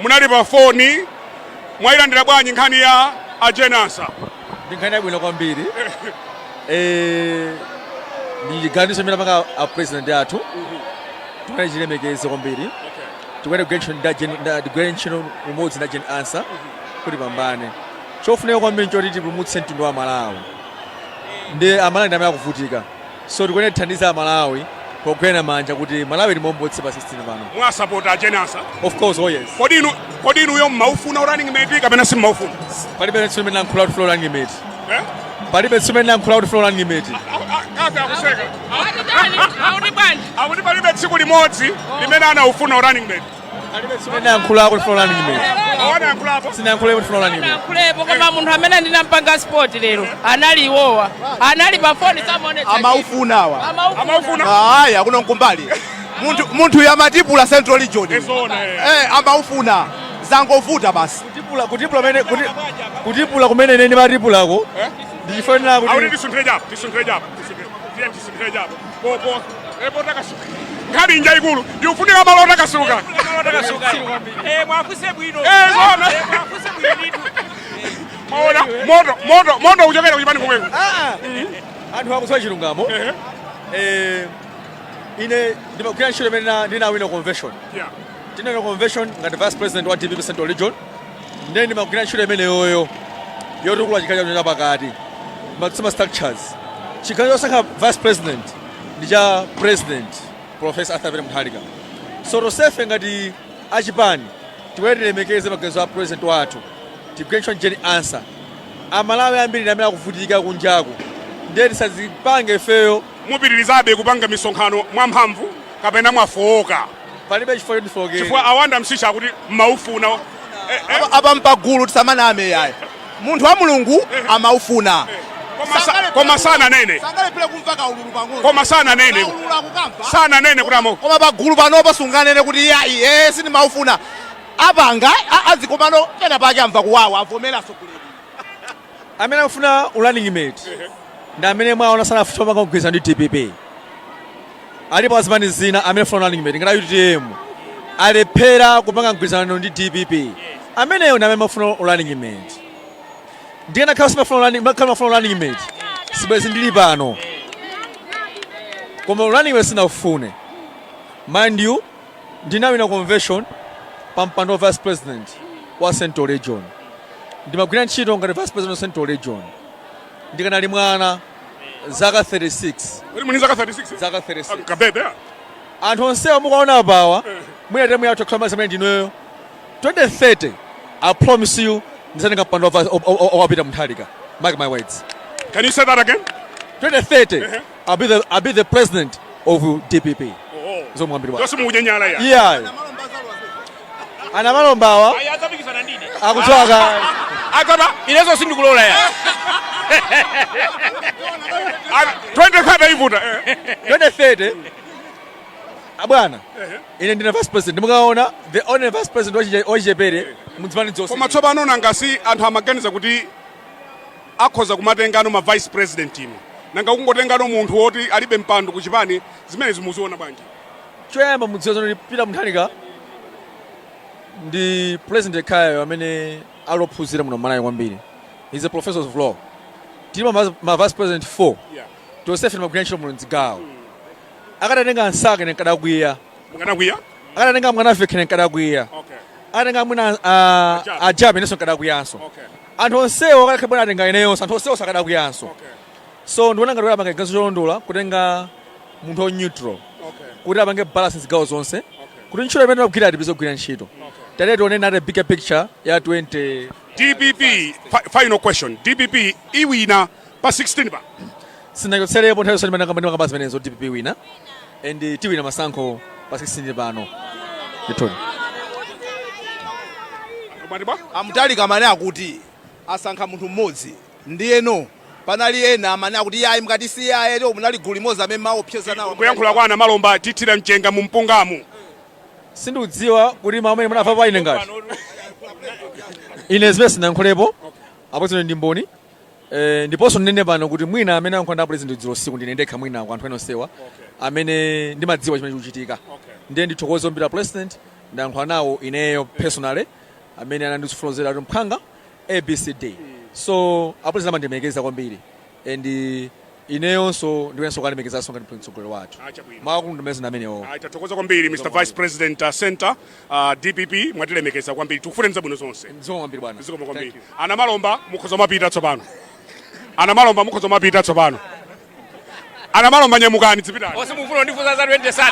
munali pa foni mwayilandira bwanji nkhani ya a Jane Ansah ndi nkhani yabwino kwambiri Eh, ndi chiganizo chimene apanga a president athu tikuyenera tichilemekeze kwambiri tikuyenera kugwira ntchito ndi a Jane- ndi- tigwire ntchito limodzi ndi a Jane Ansah kuti pambane chofunika kwambiri choti tipulumutse mtundu wa malawi ndi amalawi ndi amene akuvutika So tikuyenera tithandize a Malawi pogwirana manja kuti Malawi timombotse pa 16 pano. Mwasapota a Jane Ansah. Of course, oh yes. Kodi inu kodi inuyo mmaufuna running mate kapena simmaufuna? Palibe tsiku limene nankhula kuti ndifuna running mate. Eh? Palibe tsiku limene nankhula kuti ndifuna running mate. Kaka akuseka. Akuti bwanji? Akuti palibe tsiku limodzi limene anaufuna running mate. sinayankhulepo koma munthu amene ndinampanga spot lero anali iwowa anali pa foni samaonetsa amaufunawa ayi akuno nkumbali munthu munthuyu amatipula central region eh amaufuna zangovuta basi kutipula kutipula mene kuti- kutipula kumene nene matipulako ndichifanira kuti Akuti tisunthire cha apo, tisunthire cha apo, tisunthire- tiye tisunthire cha apo. popo eh potakasuka nkhani njaikulu ikufunika malo otakasuka Eh, muwafunse bwino Eh, zona. Eh, muwafunse bwino ndithu maona moto moto moto kuchokera kuchipani kumweko anthu akudziwa chilungamo Eh, ine ndimagwira ntchito imene ndina- ndinawina convention Yeah. ndinawina convention ngati vice president wa dpp central region ndiye ndimagwira ntchito imeneyoyo yotukula chigawo chathu chapakati matsima structures chiganizo chosankha vice president ndi cha president professor arthur peter mutharika so tonsefe ngati achipani tikuyenera tilemekeze maganizo a president wathu tigwire ntchito ndi Jane Ansah amalawi ambiri ndi amene akuvutika kunjaku ndiye tisazipange ifeyo mupitirizabe kupanga misonkhano mwamphamvu kapena mwafowoka palibe chifukwa choti ndifookere chifukwa a Wonder Msiska akuti mmaufuna eh, eh, Apa- apa mpagulu tisamaname yayi munthu wa mulungu amaufuna koma sa- koma sananene sangalephere kumva kaululu pang'ono koma sananene kaululu akukamva sananene kuti ama koma pagulu panopa sunganene kuti yayi ee sindimaufuna apanga a- azikomano pena pake amva kuwawa avomeranso kulero amene akufuna running mate ndi amene mwaona sanafuna kupanga mgwirizano ndi dpp alipo azipani zina amene afuna running mate ngati utm alephera kupanga mgwirizano ndi dpp amenewo ndi amene amafuna running mate ndiye nakhala simafuna running makhala mafuna running mate sibwezi ndili pano koma running mate sinaufune mind you Ndinawina convention pa mpando wa vice president wa central region. Ndimagwira ntchito ngati vice president wa central region. Ndikanali mwana zaka 36. Kodi muli zaka 36? Zaka 36. Kabebe. Anthu onsewa mukaona apawa mwina temu yathu yakhala mazimene ndineyo 2030 I promise you ndizatenga mpando wa vice- wa- wa- wa- wa Peter Mutharika. Mark my words. Can you say that again? 2030 I'll be the, I'll be the president of DPP. Oh. Zo mwambiri wa. Tosi mukunyanyala ya. Yeah. A Namalombawa. Ayatapikisana ndine. Akuchoka. Akaba ilezo sindikulola ya. 2030 ivuta. 2030. Abwana. Ine ndine vice president. Mukaona the only vice president wachichepere mu zipani zonse. Koma tsopano nanga si anthu amaganiza kuti Akhoza kumatengano ma vice president inu nanga kungotengano munthu oti alibe mpando ku chipani zimenezi muziona bwanji? Choyamba mudziwe zoti Peter Mutharika ndi president yekhayo amene ali ophunzira muno Malawi kwambiri. He's a professor of law. Tili ma, ma vice president 4 Yeah. tonsefe timagwira ntchito muno mdzigawo. Akadatenga a Msaka ne nkadakwiya. Mukanakwiya? Akadatenga Mwanamvekha ne nkadakwiya. Okay. Akadatenga mwina uh, A Jappie. a Jappie inenso nkadakwiyanso. Okay. anthu onsewo akadakhala bwana atenga ineyonso anthu onsewo sakadakwiyanso so ndiona ngati kuti apanga chiganizo cholondola kutenga munthu wa neutral kuti apange balance zigawo zonse kuti ntchito imene tikugwira tipeze kugwira ntchito tate tione nate bigger picture ya 20 dpp fi- final question dpp iwina pa 16 pa sinachotserepo nthawi yonse imene ndimakamba zimenezo dpp iwina and tiwina masankho pa 16 pano ndithudi Mwati bwa? a mutharika amene akuti asankha munthu mmodzi ndiyeno panali ena amene akuti yayi mukati si yaye lero munali gulu limodzi amene maopseza nawo kuyankhula kwa a namalomba tithira mchenga mu mpungamu sindikudziwa kuti mawu amene munamva pa ine ngati ine zimene sinayankhulepo apo zino ndi mboni Eh, ndiponso ndinene pano kuti mwina amene ayankhula ndi apresident dzulo usiku ndine ndekha mwina kwa anthu ena onsewa amene ndimadziwa chimene chikuchitika ndiye ndithokoze kwambiri apresident ndayankhula nawo ineyo personally amene anandifotokozera kuti mphwanga abcd so apresident amandilemekeza kwambiri and ineyonso ndikuyeneranso kuwalemekezanso ngati mtsogoleri wathu Ah, chabwino. mawu akulu ndimene zinamenewo Ah, tathokoza kwambiri mr vice president uh, center uh, dpp mwatilemekeza kwambiri tikufunireni zabwino zonse zikomo kwambiri bwana zikomo kwambiri Thank you. a namalomba mukhoza mapita tsopano a namalomba mukhoza mapita tsopano a namalomba nyamukani dzipitani Ose mufuna ndifunsa za 2030.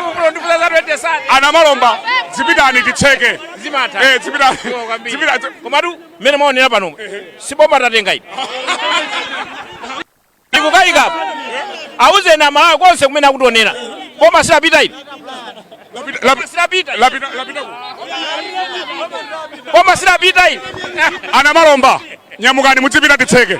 Mufuna ndifunsa za 2030. a namalomba dzipitani titseke Zimatha. Eh, dzipitani Zikomo kwambiri. dzipitani Komatu mmene mwaonera pano si boma tatenga ine ndikukayika apa auzeni amalawi konse kumene akutionera boma silapita ine Boma silapita boma silapita ine a Namalomba nyamukani mudzipita titseke